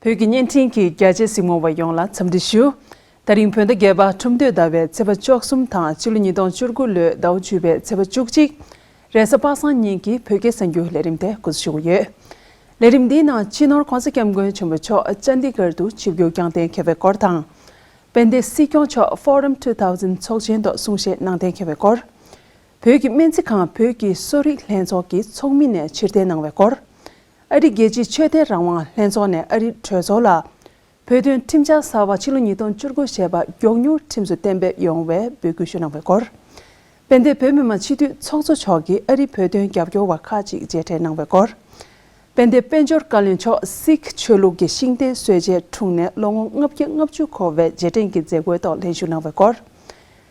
བོད་ཀྱི་བརྙན་འཕྲིན་གྱི་རྒྱལ་གཅེས་སྲིང་མོ་བ་ཡོངས་ལ་འཚམས་འདྲི་ཞུ། ད་རིང་བོད་ཟླ་བརྒྱད་པ་ཁྲུམས་སྟོད་ཟླ་བའི་ཚེས་པ་བཅོ་གསུམ་དང་ཕྱི་ལོ་ཉིས་སྟོང་བཅུ་དགུ་ལོའི་ཟླ་བ་བཅུ་པའི་ཚེས་པ་བཅུ་གཅིག་རེས་གཟའ་པ་སངས་ཉིན་གྱི་བོད་སྐད་གསར་འགྱུར་ལས་རིམ་དེ་སྐུ་ཞུ་གི་ཡོད། ལས་རིམ་འདིའི་ནང་སྤྱི་ནོར་གོང་ས་སྐྱབས་མགོན་ཆེན་པོ་མཆོག་ལྕནྡི་གར་དུ་ཆིབས་བསྒྱུར་བསྐྱངས་གཏན་འཁེལ་བའི་སྐོར་དང། དཔལ་ལྡན་སྲིད་སྐྱོང་མཆོག Forum Two Thousand ཚོགས་ཆེན་ཐོག་གསུང་བཤད་གནང་གཏན་འཁེལ་བའི་སྐོར། བོད་ཀྱི་སྨན་རྩིས་ཁང་བོད་ཀྱི་གསོ་རིག་ལྷན་ཚོགས་ཀྱི་ཚོགས་མི་ནས་ཕྱིར་འཐེན་གནང་བའི་སྐོར། ཨ་རི་རྒྱལ་སྤྱིའི་ཆོས་དད་རང་དབང་ལྷན་ཚོགས་ནས་ཨ་རི་གྲོས་ཚོགས་ལ། བོད་དོན་ཁྲིམས་འཆར་གསར་བ་ཕྱི་ལོ་ཉིས་སྟོང་བཅུ་དགུ་ཞེས་པ་མགྱོགས་མྱུར་ཁྲིམས་སུ་གཏན་འབེབས་ཡོང་བའི་འབོད་སྐུལ་ཞུས་གནང་བའི་སྐོར། དཔལ་ལྡན་བོད་མི་མང་སྤྱི་འཐུས་ཚོགས་གཙོ་མཆོག་གིས་ཨ་རིའི་བོད་དོན་རྒྱབ་སྐྱོར་བ་ཁག་ཅིག་མཇལ་འཕྲད་གནང་བའི་སྐོར། དཔལ་ལྡན་དཔལ་འབྱོར་བཀའ་བློན་མཆོག་སིག་ཆོས་ལུགས་ཀྱི་ཤིང་རྟའི་སྲོལ་འབྱེད་དྲུང་ནས་ལོ་ངོ་ལྔ་བརྒྱ་ལྔ་བཅུ་འཁོར་བའི་རྗེས་དྲན་གྱི་མཛད་སྒོའི་ཐོག་ལྷན་ཞུགས་གནང་བའི་སྐོར།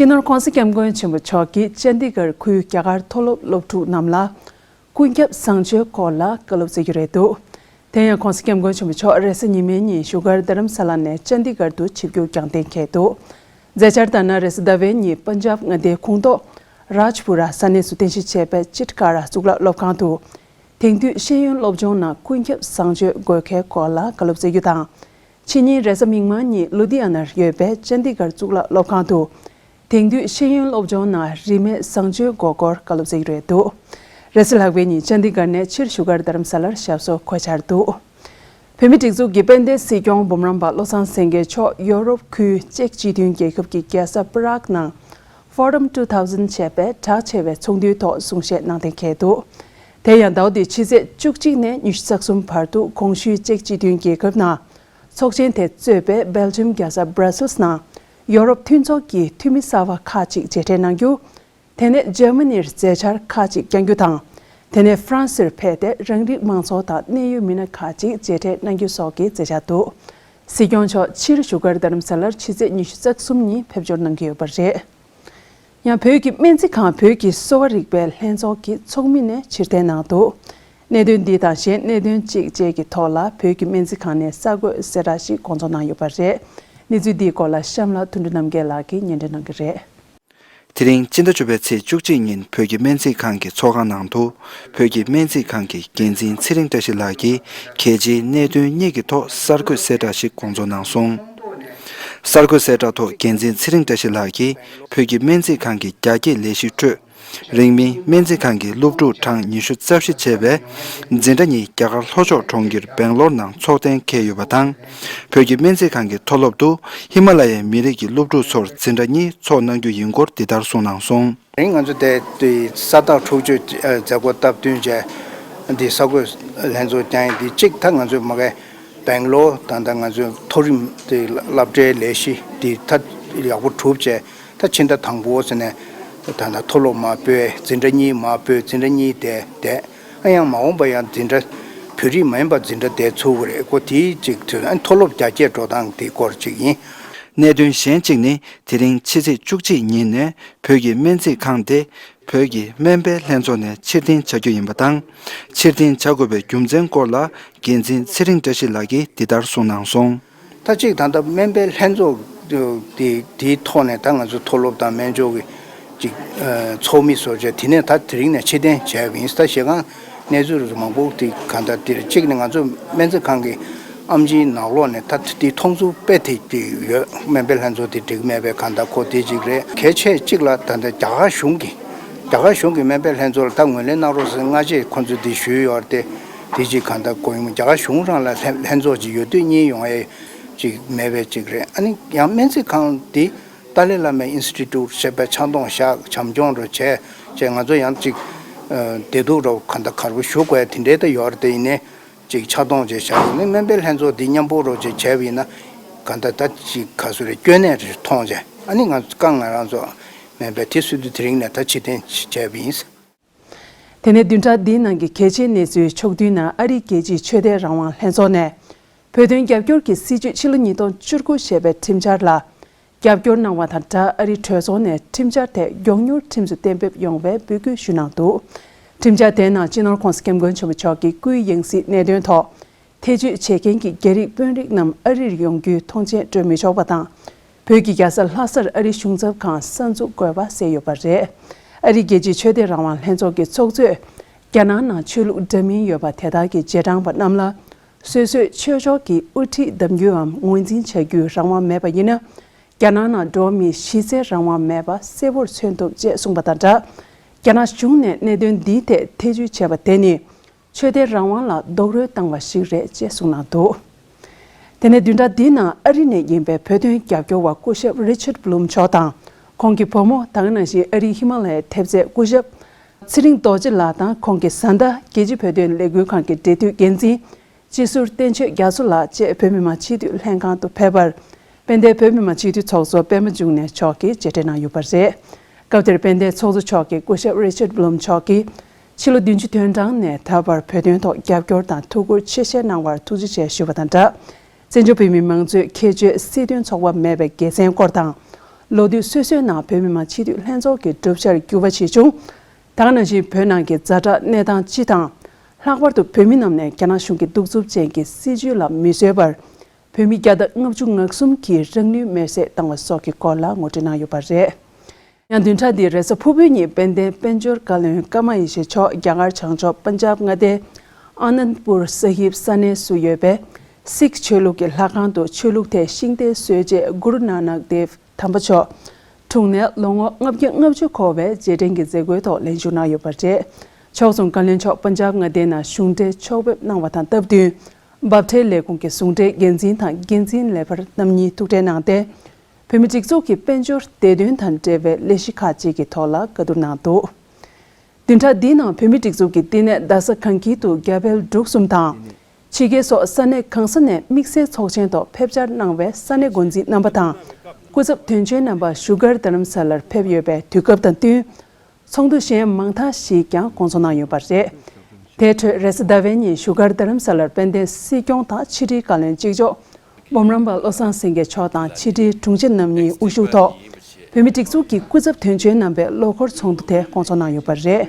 སྤྱི་ནོར ྋགོང་ས ྋསྐྱབས་མགོན་ཆེན་པོ་མཆོག་གིས་ཆན་ཏི་གྷར་ཁུལ་རྒྱ་གར་མཐོ་སློབ་སློབ་ཕྲུག་རྣམས་ལ། ཀུན་ཁྱབ་བཟང་སྤྱོད་སྐོར་ལ་བཀའ་སློབ་སྩལ་རྒྱུ་རེད་འདུག་དེ་ཡང ྋགོང་ས ྋསྐྱབས་མགོན་ཆེན་པོ་མཆོག་རེས་གཟའ་ཉི་མའི་ཉིན་བཞུགས་སྒར་རྡ་རམ་ས་ལ་ནས་ཆན་ཏི་གྷར་དུ་ཆིབས་རྒྱུག་རྒྱང་བསྟེན་ཁེལ་འདུག་མཛད་འཆར་ལྟར་ན་རེས་ཟླ་བའི་ཉིན་པན་ཇབ་མངའ་སྡེའི་ཁོངས་གཏོགས Rajpura ས་གནས་སུ་རྟེན་གཞི་བྱས་པའི Chitkara གཙུག་ལག་སློབ་ཁང་དུ། དེང་དུས་ཤེས་ཡོན་སློབ་སྦྱོང་ནང་ཀུན་ཁྱབ་བཟང་སྤྱོད་དགོས་གལ་སྐོར་ལ་བཀའ་སློབ་སྩལ་རྒྱུ་དང། ཕྱི་ཉིན་རེས་གཟའ་མིག་དམར་ཉིན་ལུ་དྷི་ཡ་ནར་ཡོད་པའི་ལྕན་ཏི་གྷར་གཙུག་ལག་སློབ་ཁང་དུ། དེང་དུས་ཤེས་ཡོན་སློབ་སྦྱོང་ནང་རིས་མེད་བཟང་སྤྱོད་དགོས་སྐོར་བཀའ་སློབ་སྩལ་གྱི་རེད་འདུག་རེས་གཟའ་ལྷག་པའི་ཉིན་ལྕན་ཏི་གྷར་ནས་ཕྱིར་བཞུགས་སྒར་དྷརམ་ས་ལར་ཞབས་སོར་འཁོད་འཆར་འདུག་བོད་མིའི་སྒྲིག་འཛུགས་ཀྱི་དཔལ་ལྡན་སྲིད་སྐྱོང་འབུམ་རམས་པ་བློ་བཟང་སེང་གེ་མཆོག་ཡོ་རོབ་ཁུལ་ཅེཀ་སྤྱི་མཐུན་རྒྱལ་ཁབ་ཀྱི་རྒྱལ་ས Prague ནང Forum Two Thousand བྱས་པའི་གྲགས་ཆེ་བའི་ཚོགས་འདུའི་ཐོག་གསུང་བཤད་གནང་གཏན་འཁེལ་འདུག་དེ་ཡང་ཟླ་བ་འདིའི་ཕྱི་ཚེས་བཅུ་གཅིག་ནས་ཉི་ཤུ་རྩ་གསུམ་བར་དུ་ཀོང་ཞུའི་ཅེཀ་སྤྱི་མཐུན་རྒྱལ་ཁབ་ནང་ཚོགས་ཆེན་དེ་གཙོས་པའི་སྦེལ་ཇམ་རྒྱལ་ས Brussels ནང་ཡོ་རོབ་མཐུན་ཚོགས་ཀྱི་འཐུས་མི་གསར་བ་ཁག་ཅིག་མཇལ་འཕྲད་གནང་རྒྱུ། དེ་ནས Germany རུ་མཛད་འཆར་ཁག་ཅིག་བསྐྱང་རྒྱུ་དང། དེ་ནས France རུ་ཕེབས་ཏེ་རང་རིགས་མང་ཚོགས་དང་གནད་ཡོད་མི་སྣ་ཁག་ཅིག་མཇལ་འཕྲད་གནང་རྒྱུ་སོགས་ཀྱི་མཛད་འཆར་འདུག་སྲིད་སྐྱོང་མཆོག་ཕྱིར་བཞུགས་སྒར་རྡ་རམ་ས་ལར་ཕྱི་ཚེས་ཉི་ཤུ་རྩ་གསུམ་ཉིན་ཕེབས་འབྱོར་གནང་གི་ཡོད་པ་རེད། ཡང་བོད་ཀྱི་སྨན་རྩིས་ཁང་བོད་ཀྱི་གསོ་བ་རིག་པའི་ལྷན་ཚོགས་ཀྱི་ཚོགས་མི་ནས་ཕྱིར་འཐེན་གནང་འདུག་གནད་དོན་འདི་དང་གཞན་གནད་དོན་གཅིག་བཅས་ཀྱི་ཐོག་ལ་བོད་ཀྱི་སྨན་རྩིས་ཁང་ནས་གསར་འགོད་གསལ་བསྒྲགས་ཤིག་དགོངས་རྫོགས་གནང་ཡོད་པ་རེད། གནས་ཚུལ་འདིའི་སྐོར་ལ་གཤམ་ལ་དོན་འགྲུབ་རྣམ་རྒྱལ་ལགས་ཀྱིས་ཉན་འདྲེན་གནང་གི་རེད། དེ་རིང་སྤྱི་ཟླ་བཅུ་པའི་ཚེས་བཅུ་གཅིག་ཉིན་བོད་ཀྱི་སྨན་རྩིས་ཁང་གི་ཚོགས་ཁང་ནང་དུ་བོད་ཀྱི་སྨན་རྩིས་ཁང་གི་འགན་འཛིན་ཚེ་རིང་བཀྲ་ཤིས་ལགས་ཀྱིས་གལ་ཆེའི་གནད་དོན་གཉིས་ཀྱི་ཐོག་གསར་འགོད་གསལ་བསྒྲགས་ཤིག་དགོངས་རྫོགས་གནང་སོང། གསར་འགོད་གསལ་བསྒྲགས་ཐོག་འགན་འཛིན་ཚེ་རིང་བཀྲ་ཤིས་ལགས་ཀྱིས། བོད་ཀྱི་སྨན་རྩིས་ཁང་གི་རྒྱ་སྐྱེད་ལས་གཞིའི་ཁྲོད། རིང་མིན་སྨན་རྩིས་ཁང་གི་སློབ་ཕྲུག་གྲངས་ཉི་ཤུ་རྩ་བཞི་བྱས་པའི་འཛིན་གྲྭ་གཉིས་རྒྱ་གར་ལྷོ་ཕྱོགས་གྲོང་ཁྱེར་སྦེང་ལོར་ནང་འཚོགས་གཏན་འཁེལ་ཡོད་པ་དང། བོད་ཀྱི་སྨན་རྩིས་ཁང་གི་མཐོ་སློབ་ཏུ་ཧི་མ་ལ་ཡའི་མི་རིགས་ཀྱི་སློབ་ཕྲུག་ཚོར་འཛིན་གྲྭ་གཉིས་འཚོགས་གནང་རྒྱུ་ཡིན་སྐོར་འདི་ལྟར་གསུངས་གནང་སོང། རིང་ང་ཚོ་འདས་དུས་ས་བདག་འཁྲུག་སྤྱོད་མཛད་སྒོ་སྟབས་བསྟུན་བྱས། འདི་ས་བགོས་ལྷན་ཚོགས་ཀྱང་ཡིན་འདི་གཅིག་ད་ང་ཚོས་མ་གལ། སྦེང་ལོར་ད་ལྟ་ང་ཚོའི་མཐོ་རིམ་དེ་བསླབ་གྲྭའི་ལས་གཞི་འདི་ད་ཡག་པོ་གྲུབ་རྗེས་ད་ཕྱི་ཟླ་དང་པོ་ཟེར་ནས་ད་ལྟ་མཐོ་སློབ་མ་པོའི་འཛིན་གྲྭ་གཉིས་མ་པོའི་འཛིན་གྲྭ་གཉིས་དེ་བསྡད། ཨ་ཡང་མ་འོངས་པ་ཡང་འཛིན་གྲྭ་བོད་རིགས་མ་ཡིན་པ་འཛིན་གྲྭ་བསྡད་ཚུལ་གྱི་རེད་ཀོ་དེའི་གཅིག་དེ་ཨ་མཐོ་སློབ་རྒྱ་སྐྱེད་འགྲོ་སྟངས་དེ་སྐོར་ཅིག་ཡིན། གནད་དོན་གཞན་གཅིག་ནི་དེ་རིང་ཕྱི་ཚེས་བཅུ་གཅིག་ཉིན་ནས་བོད་ཀྱི་སྨན་རྩིས་ཁང་དེ་བོད་ཀྱི་སྨན་པའི་ལྷན་ཚོགས་ནས་ཕྱིར་འཐེན་བྱ་རྒྱུ་ཡིན་པ་དང། ཕྱིར་འཐེན་བྱ་དགོས་པའི་རྒྱུ་མཚན་སྐོར་ལ་འགན་འཛིན་ཚེ་རིང་བཀྲ་ཤིས་ལགས་ཀྱིས་འདི་ལྟར་གསུངས་གནང་སོང། ད་གཅིག་ད་ལྟ་སྨན་པའི་ལྷན་ཚོགས་དེའི་ཐོག་ནས་ད་ང་ཚོ་མཐོ་སློབ་དང་སྨན་ཕྱོགས་ཀྱི་ཚོགས་མི་བཟོ་བྱས་དེ་ནས་ད་དེ་རིང་ནས་ཕྱིར་འཐེན་བྱ་ཡག་གི་ཡིན་ད་ཞེ་སྒང་གནས་ཚུལ་རེ་མང་པོ་དེ་ག་ལྟར་འདིར་གཅིག་ནི་ང་ཚོ་སྨན་རྩིས་ཁང་གི་ཨམ་གཞིའི་ནག་ལོགས་ནས་ད་ལྟ་དེའི་མཐོང་ཚུལ་དཔེ་དེ་གཅིག་ཡོད་སྨན་པའི་ལྷན་ཚོགས་དེ་འགྲིག་མེད་པའི་གང་ལྟར་ཁོ་དེ་གཅིག་རེད་གལ་ཆེ་གཅིག་ལ་ད་ལྟ་རྒྱ་གར་གཞུང་གིས་རྒྱ་གར་གཞུང་གིས་སྨན་པའི་ལྷན་ཚོགས་ལ་ད་ངོས་ལེན་གནང་རོགས་ཟེར་སྔ་རྗེས་ཁོ་ཚོས་དེ་ཞུས་ཡོད་རེད་དེ་དེ་གཅིག་གང་ལྟར་གོ་ཡོང་རྒྱ་གར་གཞུང་རང་ལ་ལྷན་ཚོགས་གཅིག་ཡོད་དུས་གཉིས་ཡོང་ཨེ་ཅིག་མེད་པའི་གཅིག་རེད་ཨ་ནི་ཡང་སྨན་རྩིས་ཁང་དེ། ཏཱ་ལའི་བླ་མའི Institute ཞེས་པའི་ཆང་འཐུང་ཤག་བྱམས་སྐྱོང་རུ་བྱས་རྗེས་ང་ཚོ་ཡང་ཅིག་བདེ་སྡུག་རོ་ག་འདའ་གར་བོ་ཞུགས་བས་དེ་འདྲའི་ད་ཡོར་དེ་ཡིན་ནའི་ཅིག་ཕྱག་སྟོང་བཅས་བཞག་ཡིན་ནའི་སྨན་པའི་ལྷན་ཚོགས་འདི་མཉམ་སྤོ་རོགས་ཅིག་བྱས་བས་ཡིན་ན་ག་འདའ་ད་ཅིག་ག་སུ་རེ་སྐྱོན་གནས་རེ་མཐོང་བྱས་ཨ་ནི་ང་ཀང་ང་རང་ཚོ་སྨན་པའི་དེ་སུད་དུ་དེ་རིང་ནས་ད་ཕྱི་ཐེན་བྱས་བས་ཡིན། དེ་ནས་བདུན་ཕྲག་འདིའི་ནང་གི་གལ་ཆེའི་གནས་ཚུལ་ཕྱོགས་བསྡུས་ནང་ཨ་རིའི་རྒྱལ་སྤྱིའི་ཆོས་དད་རང་དབང་ལྷན་ཚོགས་ནས་བོད་དོན་རྒྱབ་སྐྱོར་གྱི་སྲིད་བྱུས་ཕྱི་ལོ་ཉིས་སྟོང་བཅུ་དགུ་ཞེས་པའི་ཁྲིམས་འཆར་ལ་རྒྱབ་སྐྱོར་གནང་བ་དང་སྦྲགས་ཨ་རིའི་གྲོས་ཚོགས་ནས་ཁྲིམས་འཆར་དེ་མགྱོགས་མྱུར་ཁྲིམས་སུ་གཏན་འབེབས་ཡོང་བའི་འབོད་སྐུལ་ཞུས་གནང་འདུག་ཁྲིམས་འཆར་དེའི་ནང་སྤྱི་ནོར་ཁོང་སྐྱབས་མགོན་ཆེན་པོ་མཆོག་གི་སྐུའི་ཡང་སྲིད་གནད་དོན་ཐོག་ཐེ་བྱུས་བྱེད་མཁན་གྱི་རྒྱ་རིགས་དཔོན་རིགས་རྣམས་ཨ་རིར་ཡོང་རྒྱུའི་ཐོངས་མཆན་སྤྲོད་མི་ཆོག་པ་དང། བོད་ཀྱི་རྒྱལ་ས་ལྷ་སར་ཨ་རིའི་གཞུང་ཚབ་ཁང་གསར་འཛུགས་དགོས་པ་གསལ་ཡོད་པ་རེད། ཨ་རིའི་རྒྱལ་སྤྱིའི་ཆོས་དད་རང་དབང་ལྷན་ཚོགས་ཀྱི་ཚོགས་གཙོས། རྒྱ་ནང་ནང་ཆོས་ལུགས་འདྲ་མིན་ཡོད་པ་དེ་དག་གི་རྗེས་འབྲང་པ་རྣམས་ལ། སོ་སོའི་ཆོས་ཕྱོགས་ཀྱི་དབུ་ཁྲིད་གདམ་རྒྱུའམ་ངོས་འཛིན་བྱ་རྒྱུའི་རང་དབང་མེད་པ་ཡིན་ན། རྒྱ་ནང་ནང་འགྲོ་མིའི་གཞི་རྩའི་རང་དབང་མེད་པ་གསལ་བོར་མཚོན་ཐུབ་ཅེས་གསུངས་པ་དང་སྦྲགས། རྒྱ་ནག་གཞུང་ནས་གནད་དོན་འདིའི་ཐད་ཐེ་བྱུས་བྱས་པ་དེ་ནི། ཆོས་དད་རང་དབང་ལ་རྡོག་རོལ་བཏང་བ་ཞིག་རེད་ཅེས་གསུངས་གནང་འདུག་དེ་ནས་བདུན་ཕྲག་འདིའི་ནང་ཨ་རི་ནས་ཡིན་པའི་བོད་དོན་རྒྱབ་སྐྱོར་བ་སྐུ་ཞབས Richard Blum མཆོག་དང་ཁོང་གི་བུ་མོ་ད་སྔ་ནང་བཞིན་ཨ་རིའི་ཧི་མ་ལ་ཡའི་ཐེབས་རྩའི་སྐུ་ཞབས་ཚེ་རིང་རྡོ་རྗེ་ལགས་དང་ཁོང་གི་བཟའ་ཟླ་རྒྱལ་སྤྱི་བོད་དོན་ལས་འགུལ་ཁང་གི་འབྲེལ་མཐུད་འགན་འཛིན་སྤྱི་ཟུར་བསྟན་ཆོས་རྒྱ་མཚོ་ལགས་བཅས་བོད་མི་མང་སྤྱི་འཐུས་ལྷན་ཁང་དུ་ཕེབས་པར་དཔལ་ལྡན་བོད་མི་མང་སྤྱི་འཐུས་ཚོགས་གཙོ་པད་མ་འབྱུང་གནས་མཆོག་གིས་མཇལ་འཕྲད་གནང་ཡོད་པ་རེད། སྐབས་དེར་དཔལ་ལྡན་ཚོགས་གཙོ་མཆོག་གིས་སྐུ་ཞབས Richard Blum མཆོག་གིས། ཕྱི་ལོ་བདུན་ཅུ་དོན་གྲངས་ནས་ད་བར་བོད་དོན་ཐོག་རྒྱབ་སྐྱོར་དང་ཐུགས་ཁུར་ཆེ་བཞེས་གནང་བར་ཐུགས་རྗེ་ཆེ་ཞུ་བ་དང་སྦྲགས། བཙན་བྱོལ་བོད་མི་མང་གཙོའི་ཁྱད་ཆོས་སྲིད་དོན་ཚོགས་པ་མེད་པའི་དགེ་མཚན་སྐོར་དང། ལོ་དུས་སོ་སོའི་ནང་བོད་མི་མང་སྤྱི་འཐུས་ལྷན་ཚོགས་ཀྱི་གྲུབ་ཆར་འགྱུར་བ་ཆེ་ཆུང་དང་ནང་བཞིན་བོད་ནང་གི་རྫ་དྲག་གནས་སྟངས་སྤྱི་དང། ལྷག་པར་དུ་བོད་མི་རྣམས་ནས་རྒྱ་ནག་གཞུང་གི་གདུག་རྩུབ་ཅན་གྱི་སྲིད་བྱུས་ལ་མི་བཟོད་པར་བོད་མི་བརྒྱ་དང་ལྔ་བཅུ་ངག་གསུམ་གྱིས་རང་ལུས་མེར་སྲེག་བཏང་བ་སོགས་ཀྱི་སྐོར་ལ་ངོ་སྤྲོད་གནང་ཡོད་པ་རེད། ཡང་བདུན་ཕྲག་འདིའི་རེས་གཟའ་ཕུར་བུའི་ཉིན་དཔལ་ལྡན་དཔལ་འབྱོར་བཀའ་བློན་ཀརྨ་ཡེ་ཤེས་མཆོག་རྒྱ་གར་བྱང་ཕྱོགས Punjab མངའ་སྡེ། Anandpur Sahib། ས་གནས་སུ་ཡོད་པའི Sikh ཆོས་ལུགས་ཀྱི་ལྷ་ཁང་དུ་ཆོས་ལུགས་ཐད་ཤིང་རྟའི་སྲོལ་འབྱེད Guru Nanak Dev དམ་པ་མཆོག་འཁྲུངས་ནས་ལོ་ངོ་ལྔ་བརྒྱ་ལྔ་བཅུ་འཁོར་བའི་རྗེས་དྲན་གྱི་མཛད་སྒོའི་ཐོག་ལེན་ཞུ་གནང་ཡོད་པ་རེད། ཕྱོགས་མཚུངས་བཀའ་བློན་མཆོག Punjab མངའ་སྡེའི་ནང་གཞུང་འབྲེལ་ཕྱོགས་ཕེབས་གནང་བ་དང་སྟབས་བསྟུན། འབབ་ཁྲལ་ལས་ཁུངས་ཀྱི་ཟུང་འབྲེལ་འགན་འཛིན་དང་འགན་འཛིན་ལས་འཕར་རྣམ་གཉིས་ཐུག་འཕྲད་གནང་སྟེ། བོད་མི་སྒྲིག་འཛུགས་ཀྱི་དཔལ་འབྱོར་བདེ་དོན་དང་འབྲེལ་བའི་ལས་གཞི་ཁག་ཅིག་གི་ཐོག་ལ་བཀའ་བསྡུར་གནང་འདུག་བདུན་ཕྲག་འདིའི་ནང་བོད་མི་སྒྲིག་འཛུགས་ཀྱི་བསྟི་གནས་རྡ་ས་གངས་སྐྱིད་དུ་རྒྱ་བལ་འབྲུག་གསུམ་དང། ཕྱི་རྒྱལ་སོགས་ས་གནས་གང་ས་ནས་དམིགས་བསལ་ཚོགས་ཆེན་ཐོག་ཕེབས་བཅར་གནང་བའི་ས་གནས་འགོ་འཛིན་རྣམ་པ་དང་སྐུ་ཚབ་དོན་གཅོད་རྣམ་པ་བཞུགས་སྒར་རྡ་རམ་ས་ལར་ཕེབས་ཡོད་པའི་དུས་སྐབས་དང་བསྟུན། ཚོགས་འདུ་གཞན་མང་དག་ཞིག་ཀྱང་སྐོང་ཚོགས་གནང་ཡོད་པ་རེད། དེའི་ཁྲོད་རེས་ཟླ་བའི་ཉིན་བཞུགས་སྒར་རྡ་རམ་ས་ལར་དཔལ་ལྡན་སྲིད་སྐྱོང་དང་ཕྱི་དྲིལ་བཀའ་བློན་གཅིག་ལྕོགས་འབུམ་རམས་པ་བློ་བཟང་སེང་གེ་མཆོག་དང་ཕྱི་དྲིལ་དྲུང་ཆེ་རྣམ་གཉིས་དབུ་བཞུགས་ཐོག་བོད་མི་སྒྲིག་འཛུགས་ཀྱི་སྐུ་ཚབ་དོན་གཅོད་རྣམ་པས་ལོ་འཁོར་ཚོགས་འདུ་དེ་སྐོང་ཚོགས་གནང་ཡོད་པ་རེད།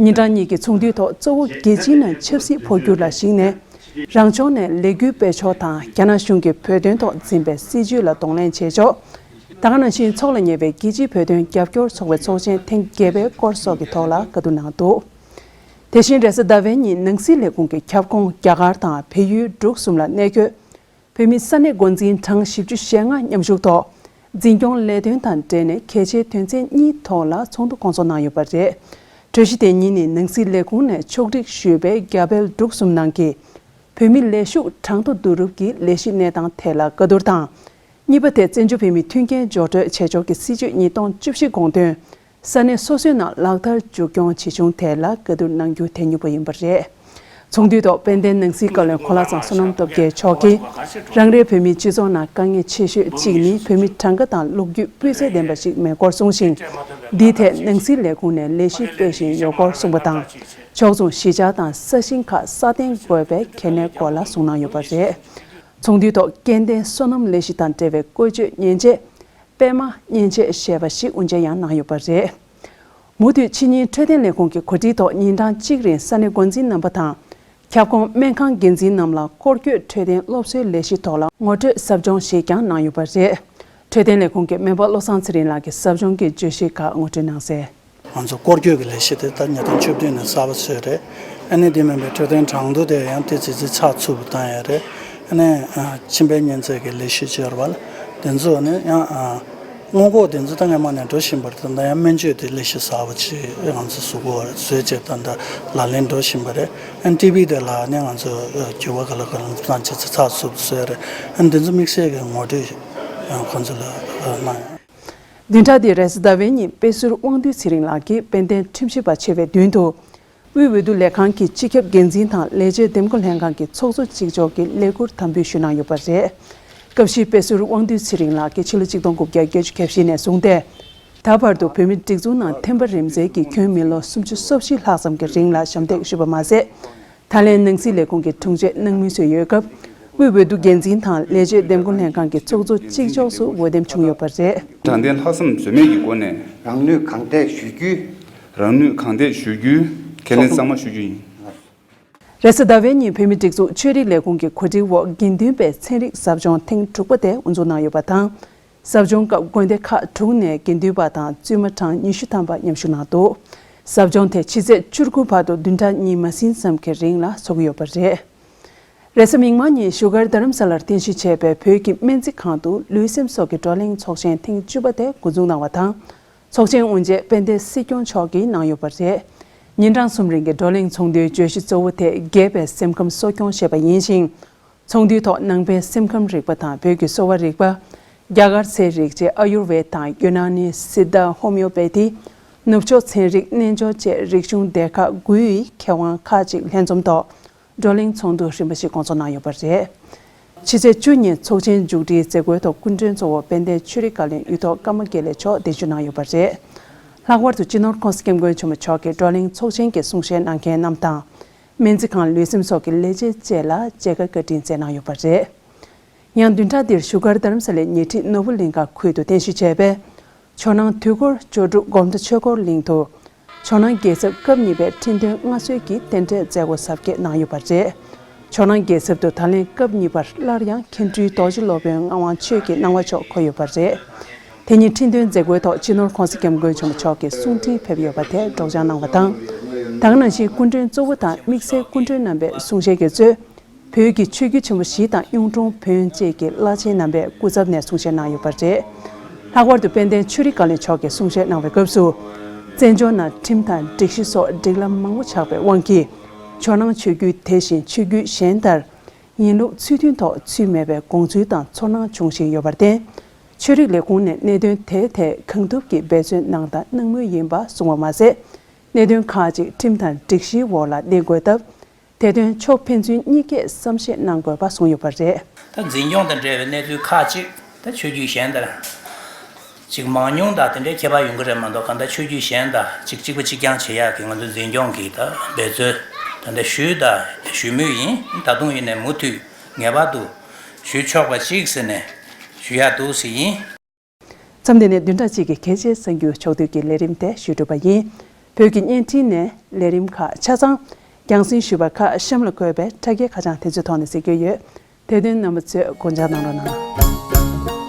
ཉིན་གྲངས་གཉིས་ཀྱི་ཚོགས་འདུའི་ཐོག་གཙོ་བོ་རྒྱལ་སྤྱིའི་ནང་ཆབ་སྲིད་འཕོ་འགྱུར་ལ་གཞིགས་ནས། རང་ཕྱོགས་ནས་ལས་འགུལ་སྤེལ་ཕྱོགས་དང་རྒྱ་ནག་གཞུང་གིས་བོད་དོན་ཐོག་འཛིན་པའི་སྲིད་བྱུས་ལ་གདོང་ལེན་བྱེད་ཕྱོགས། དང་ནང་བཞིན་ཚོགས་ལ་ཉེ་བའི་རྒྱལ་སྤྱིའི་བོད་དོན་རྒྱབ་སྐྱོར་ཚོགས་པའི་ཚོགས་ཆེན་ཐེངས་བརྒྱད་པའི་སྐོར་སོགས་ཀྱི་ཐོག་ལ་བཀའ་བསྡུར་གནང་འདུག་དེ་བཞིན་རེས་གཟའ་ཟླ་བའི་ཉིན་ནང་སྲིད་ལས་ཁུངས་ཀྱི་ཁྱབ་ཁོངས་རྒྱ་གར་དང་བལ་ཡུལ་འབྲུག་གསུམ་ལ་གནས་འཁོད་བོད་མི་ས་གནས་འགོ་འཛིན་གྲངས་བཞི་བཅུ་ཞེ་ལྔ་མཉམ་ཞུགས་ཐོག་འཛིན་སྐྱོང་ལས་དོན་དང་འབྲེལ་ནས་གལ་ཆེའི་དོན་ཚན་གཉིས་ཐོག་ལ་ཚོགས་འདུ་སྐོང་ཚོགས་གནང་ཡོད་པ་རེད། གྲོས་གཞི་དེ་ཉིད་ནི་ནང་སྲིད་ལས་ཁུངས་ནས་ཕྱོགས་སྒྲིག་ཞུས་པའི་རྒྱ་བལ་འབྲུག་གསུམ་ནང་གི་བོད་མི་ལས་ཞུགས་གྲངས་ཐོ་བསྡུ་རུབ་ཀྱི་ལས་གཞི་གནས་སྟངས་ཐད་ལ་བཀའ་བསྡུར་དང་གཉིས་པ་དེ་བཙན་བྱོལ་བོད་མིའི་མཐུན་རྐྱེན་སྦྱོར་སྤྲོད་བྱེད་ཕྱོགས་ཀྱི་སྲིད་ཇུས་ཉིས་སྟོང་བཅུ་བཞི་དགོངས་དོན་ས་གནས་སོ་སོའི་ནང་ལག་བསྟར་མཇུག་སྐྱོང་ཇི་བྱུང་ཐད་ལ་བཀའ་བསྡུར་གནང་རྒྱུ་དེ་མྱུར་པོ་ཡིན་པ་རེད། ཚོགས་འདུའི་ཐོག་དཔལ་ལྡན་ནང་སྲིད་བཀའ་བློན་ཁོ་ལ་ཚང་བསོད་ནམས་སྟོབས་རྒྱལ་མཆོག་གིས་རང་རེའི་བོད་མིའི་སྤྱི་ཚོགས་ནང་དཀའ་ངལ་ཆེ་ཤོས་གཅིག་ནི་བོད་མི་གྲངས་ཀ་དང་ལོ་རྒྱུས་སྤུས་ཚད་ལྡན་པ་ཞིག་མེད་སྐོར་གསུངས་ཤིང། འདིའི་ཐད་ནང་སྲིད་ལས་ཁུངས་ནས་ལས་གཞི་སྤེལ་བཞིན་ཡོད་སྐོར་གསུངས་པ་དང། ཕྱོགས་མཚུངས་གཞིས་ཆགས་དང་ས་ཞིང་ཁག་སྲ་བརྟན་དགོས་པའི་གལ་གནད་སྐོར་ལ་གསུངས་གནང་ཡོད་པ་རེད། ཚོགས་འདུའི་ཐོག་སྐལ་ལྡན་བསོད་ནམས་ལས་གཞི་དང་འབྲེལ་བའི་བཀོལ་སྤྱོད་མཉེན་ཆས། པད་མ་མཉེན་ཆས་ཞེས་པ་ཞིག་དབུ་འབྱེད་ཡང་གནང་ཡོད་པ་རེད། མུ་མཐུད་ཕྱི་ཉིན་འཕྲོད་བསྟེན་ལས་ཁུངས་ཀྱི་གོ་སྒྲིག་ཐོག་ཉིན་གྲངས་གཅིག་རིང་ས་གནས་འགོ་འཛིན་རྣམ་པ་དང། ཁྱབ་ཁོངས་སྨན་ཁང་འགན་འཛིན་རྣམས་ལ་སྐོར་སྐྱོད་འཕྲོད་བསྟེན་སློབ་གསོའི་ལས་གཞི་ཐོག་ལ་ངོ་སྤྲོད་ཟབ་སྦྱོང་ཞིག་ཀྱང་གནང་ཡོད་པ་རེད། འཕྲོད་བསྟེན་ལས་ཁུངས་ཀྱི་སྨན་པ་བློ་བཟང་ཚེ་རིང་ལགས་ཀྱིས་ཟབ་སྦྱོང་གི་བརྗོད་གཞི་ཁག་ངོ་སྤྲོད་གནང་གསལ། ང་ཚོ་སྐོར་སྐྱོད་ཀྱི་ལས་གཞི་དེ་ད་ཉིས་སྟོང་བཅུ་བདུན་ནས་གསར་པ་བཟོས་རེད། ཨ་ནེ་འདི་མིན་པའི་འཕྲོད་བསྟེན་གྲངས་འདུ་དེ་ཡང་དེ་ཇི་ཙི་ཚགས་ཚུད་པོ་བཏང་ཡས་རེད། ཨ་ནེ། མཆིན་པའི་གཉན་ཚད་ཀྱི་ལས་གཞི་བཅོལ་བ་ལ་དེ་ཚོ་ནི་ཡང། སྔོན་འགོག་དེ་ཚོ་ད་སྔའི་མ་ནས་འགྲོ་བཞིན་པར་ད་ཡང་སྨན་བཅོས་དེ་ལས་གཞི་གསར་པ་ཆེ་ང་ཚོ་ཟུར་འགོ་བཟོས་རྗེས་ད་ལྟ་ལག་ལེན་འགྲོ་བཞིན་པ་རེད། ཨ་ནེ་ཏི་བྷི་དེ་ལ་ནི་ང་ཚོ་འགྱུར་བ་ག་ལ་ག་ལ་འདུ་བཏང་ཇི་ཙི་ཚགས་ཚུད་པོ་བཟོས་རེད། ཨ་ནེ་འདི་ཚོ་དམིགས་བསལ་གྱི་ངོ་སྤྲོད་ཁོ་ཚོ་ལ་གནང་ཡོད། བདུན་ཕྲག་དེའི་རེས་ཟླ་བའི་ཉིན་དཔེ་ཟུར་དབང་འདུས་ཚེ་རིང་ལགས་ཀྱིས་དཔལ་ལྡན་ཁྲིམས་ཞིབ་པ་ཆེ་བའི་མདུན་དུ། དབུས་འོས་བསྡུ་ལས་ཁང་གི་སྤྱི་ཁྱབ་འགན་འཛིན་དང་ལས་བྱེད་འདེམས་བསྐོ་ལྷན་ཁང་གི་ཚོགས་གཙོ་གཅིག་ལྕོགས་ཀྱི་ལས་འཁུར་དམ་འབུལ་ཞུས་གནང་ཡོད་པ་རེད། སྐབས་བཞིའི་དཔེ་ཟུར་དབང་འདུས་ཚེ་རིང་ལགས་ཀྱིས་ཕྱི་ལོ་གཅིག་སྟོང་དགུ་བརྒྱ་བརྒྱད་ཅུ་གྱ་བཞི་ནས་བཟུང་སྟེ། ད་བར་དུ་བོད་མིའི་སྒྲིག་འཛུགས་ནང་ཐེམ་པ་རིམ་འཛེགས་ཀྱིས་ཁྱོན་མི་ལོ་སུམ་ཅུ་སོ་བཞི་ལྷག་ཙམ་གྱི་རིང་ལ་ཞབས་འདེགས་ཞུས་པ་མ་ཟད། ད་ལན་ནང་སྲིད་ལས་ཁུངས་ཀྱི་དྲུང་ཆེ་གནང་མུས་སུ་ཡོད་སྐབས། དབུས་འོས་བསྡུ་འགན་འཛིན་དང་ལས་བྱེད་འདེམས་བསྐོ་ལྷན་ཁང་གི་ཚོགས་གཙོ་གཅིག་ལྕོགས་སུ་འོས་འདེམས་བྱུང་ཡོད་པ་རེད། དྲང་བདེན་ལྷག་བསམ་ཟོལ་མེད་ཀྱི་སྒོ་ནས། རང་ནུས་གང་འདེགས་ཞུ་རྒྱུའི། རང་ནུས་གང་འདེགས་ཞུ་རྒྱུའི་ཁས་ལེན་གཙང་མ་ཞུ་རྒྱུ་ཡིན། རེས་གཟའ་ཟླ་བའི་ཉིན་བོད་མིའི་སྒྲིག་འཛུགས་ཆོས་རིག་ལས་ཁུངས་ཀྱི་གོ་སྒྲིག་འོག་དགེ་འདུན་པའི་ཚན་རིག་ཟབ་སྦྱོང་ཐེངས་དྲུག་པ་དེ་དབུ་འཛུགས་གནང་ཡོད་པ་དང། ཟབ་སྦྱོང་སྐབས་དགོན་སྡེ་ཁག་དྲུག་ནས་དགེ་འདུན་པ་དང་བཙུན་མ་གྲངས་ཉི་ཤུ་ཐམ་པ་མཉམ་ཞུགས་གནང་འདུག་ཟབ་སྦྱོང་དེ་ཕྱི་ཚེས་བཅུར་དགུན་བར་དུ་བདུན་ཕྲག་གཉིས་མ་ཟིན་ཙམ་གྱི་རིང་ལ་ཚོགས་ཀྱི་ཡོད་པ་རེད། རེས་གཟའ་མིག་དམར་ཉིན་བཞུགས་སྒར་རྡ་རམ་ས་ལར་རྟེན་གཞི་བྱས་པའི་བོད་ཀྱི་སྨན་རྩིས་ཁང་དུ་ལུས་སེམས་སྲོག་གི་བགྲོ་གླེང་ཚོགས་ཆེན་ཐེངས་བཅུ་པ་དེ་མགོ་འཛུགས་གནང་བ་དང། ཚོགས་ཆེན་དབུ་འབྱེད་དཔལ་ལྡན་སྲིད་སྐྱོང་མཆོག་གིས་གནང་ཡོད་པ་རེད། ཉིན་གྲངས་གསུམ་རིང་གི་བགྲོ་གླེང་ཚོགས་འདུའི་བརྗོད་གཞི་གཙོ་བོ་དེ་རྒས་པའི་སེམས་ཁམས་གསོ་སྐྱོང་བྱེད་པ་ཡིན་ཞིང། ཚོགས་འདུའི་ཐོག་ནང་པའི་སེམས་ཁམས་རིག་པ་དང་བོད་ཀྱི་གསོ་བ་རིག་པ། རྒྱ་གར་ཚེ་རིག་བཅས་ཨ་ཡུར་ཝེད་དང་ཡོ་ན་ནི་སིདྡྷ་ཧོ་མེའོ་པེ་ཐི། ནུབ་ཕྱོགས་ཚན་རིག་རྣལ་འབྱོར་བཅས་རིག་གཞུང་སྡེ་ཁག་དགུའི་མཁས་དབང་ཁག་ཅིག་ལྷན་འཛོམས་ཐོག་བགྲོ་གླེང་ཚོགས་འདུ་རིམ་པ་ཞིག་སྐོང་ཚོགས་གནང་ཡོད་པ་རེད། ཕྱི་ཚེས་བཅུ་ཉིན་ཚོགས་ཆེན་མཇུག་སྒྲིལ་མཛད་སྒོའི་ཐོག་སྐུ་མགྲོན་གཙོ་བོ་དཔལ་ལྡན་ཆོས་རིག་བཀའ་བློན་གཡུ་ཐོག་ཀརྨ་དགེ་ལེགས་མཆོག་གདན་ཞུ་གནང་ཡོད་པ་རེད། ལྷག་པར་དུ་སྤྱི་ནོར་ཁོངས་སུ་སྐྱབས་མགོན་ཆེན་མོ་མཆོག་གིས་བགྲོ་གླེང་ཚོགས་ཆེན་གྱི་གསུང་བཤད་གནང་མཁན་རྣམས་དང། སྨན་རྩིས་ཁང་ལུས་སེམས་སོགས་ཀྱི་ལས་བྱེད་བཅས་ལ་མཇལ་ཁ་བཀའ་དྲིན་སྩལ་གནང་ཡོད་པ་རེད། ཡང་བདུན་ཕྲག་འདིར་བཞུགས་སྒར་རྡ་རམ་ས་ལའི་ཉེ་འཁྲིས་ནོར་བུ་གླིང་ཁ་ཁུལ་དུ་རྟེན་གཞི་བྱས་པའི་ཇོ་ནང་དུས་འཁོར་ཇོ་སྒྲུབ་སྒོམ་གྲྭ་ཆོས་འཁོར་གླིང་དུ། ཇོ་ནང་རྒྱལ་ཚབ་སྐབས་གཉིས་པའི་ཁྲི་འདོན་མངའ་གསོལ་གྱི་རྟེན་འབྲེལ་མཛད་སྒོ་གཟབ་རྒྱས་གནང་ཡོད་པ་རེད། ཇོ་ནང་རྒྱལ་ཚབ་ཏུ་ད་ལན་སྐབས་གཉིས་པར་སླར་ཡང་མཁན་སྤྲུལ་རྡོ་རྗེ་སློབ་དཔོན་ངག་དབང་ཆོས་ཀྱི་སྣང་བ་མཆོག་འཁོད་ཡོད་པ་རེད། དེ་ཉིན་ཁྲི་འདོན་མཛད་སྒོའི་ཐོག་སྤྱི་ནོར ྋགོང་ས ྋསྐྱབས་མགོན་ཆེན་པོ་མཆོག་གི་གསུང་འཕྲིན་ཕེབས་ཡོད་པ་དེ་སྒྲོགས་སྦྱང་གནང་བ་དང། དང་ནང་བཞིན་སྐུ་མགྲོན་གཙོ་བོ་དང་དམིགས་བསལ་སྐུ་མགྲོན་རྣམ་པའི་གསུང་བཤད་དགེ་གཙོས། བོད་ཀྱི་ཆོས་བརྒྱུད་ཆེན་པོ་བཞི་དང་གཡུང་དྲུང་བོན་བཅས་ཀྱི་བླ་ཆེན་རྣམ་པས་སྐུ་ཚབ་ནས་གསུང་བཤད་གནང་ཡོད་པ་རེད། ལྷག་པར་དུ་དཔལ་ལྡན་ཆོས་རིག་བཀའ་བློན་མཆོག་གིས་གསུང་བཤད་གནང་བའི་སྐབས་སུ། བཙན་བྱོལ་ནང་ཁྲིམས་དང་སྒྲིག་གཞི་སོགས་སྒྲིག་ལམ་མང་པོ་ཆགས་པའི་དབང་གིས། ཇོ་ནང་ཆོས་བརྒྱུད་དེ་བཞིན་ཆོས་བརྒྱུད་གཞན་ལྟར། ཡིན་ལུགས་ཚུལ་མཐུན་ཐོག་ཚུལ་མེད་པའི་དགོངས་ཚུལ་དང་ཚོར་སྣང་འབྱུང་བཞིན་ཡོད་པར་བརྟེན། ཆོས་རིག་ལས་ཁུངས་ནས་གནད་དོན་དེའི་ཐད་གང་ཐུབ་ཀྱིས་འབད་བརྩོན་གནང་དང་གནང་མུས་ཡིན་པ་གསུངས་བ་མ་ཟད། གནད་དོན་ཁག་ཅིག་ཁྲིམས་དང་སྒྲིག་གཞིའི་འོག་ལ་གནས་དགོས་སྟབས། དེ་དོན་ཕྱོགས་ཕན་ཚུན་གཉིས་ཀས་བསམ་ཤེས་གནང་དགོས་པ་གསུངས་ཡོད་པ་རེད། ད་འཛིན་སྐྱོང་དང་འབྲེལ་བའི་གནས་ཚུལ་ཁག་ཅིག་ད་ཆོས་བརྒྱུད་གཞན་དང་ཅིག་མང་ཉུང་དང་དེ་འདྲའི་ཁྱད་པར་ཡོང་གི་རེད་མ་གཏོགས་གང་ལྟར་ཆོས་བརྒྱུད་གཞན་དང་ཅིག་གཅིག་པ་གཅིག་རྐྱང་བྱེད་ཡག་གི་ང་ཚོ་འཛིན་སྐྱོང་གིས་ད་འབད་བརྩོན་ད་ལྟ་ཞུས་དང་ཞུ་མུས་ཡིན་ད་དུང་ཡིན་ནས་མུ་མཐུད་ངེས་པར་དུ་ཞུས་ཆོག་པ་ཞིག་ཟེར་ནས་ཞུས་ཡག་འདུག་ཟེར་ཡིན། མཚམས་འདི་ནས་བདུན་ཕྲག་གཅིག་གི་གལ་ཆེའི་གསར་འགྱུར་ཕྱོགས་བསྡུས་ཀྱི་ལས་རིམ་དེ་ཞུས་གྲུབ་པ་ཡིན། བོད་ཀྱི་བརྙན་འཕྲིན་ནས་ལས་རིམ་ཁག་ཆ་ཚང། རྒྱང་སྲིང་ཞུས་པ་ཁ་གཤམ་ལ་བཀོད་པའི་ཕྲ་རྒྱས་ཁ་བྱང་དེ་ཚོའི་ཐོག་ནས་ཟེར་རྒྱུ་ཡོད། དེ་དོན་རྣམ་པ་ཚོས་དགོངས་འཇགས་གནང་རོགས་གནང།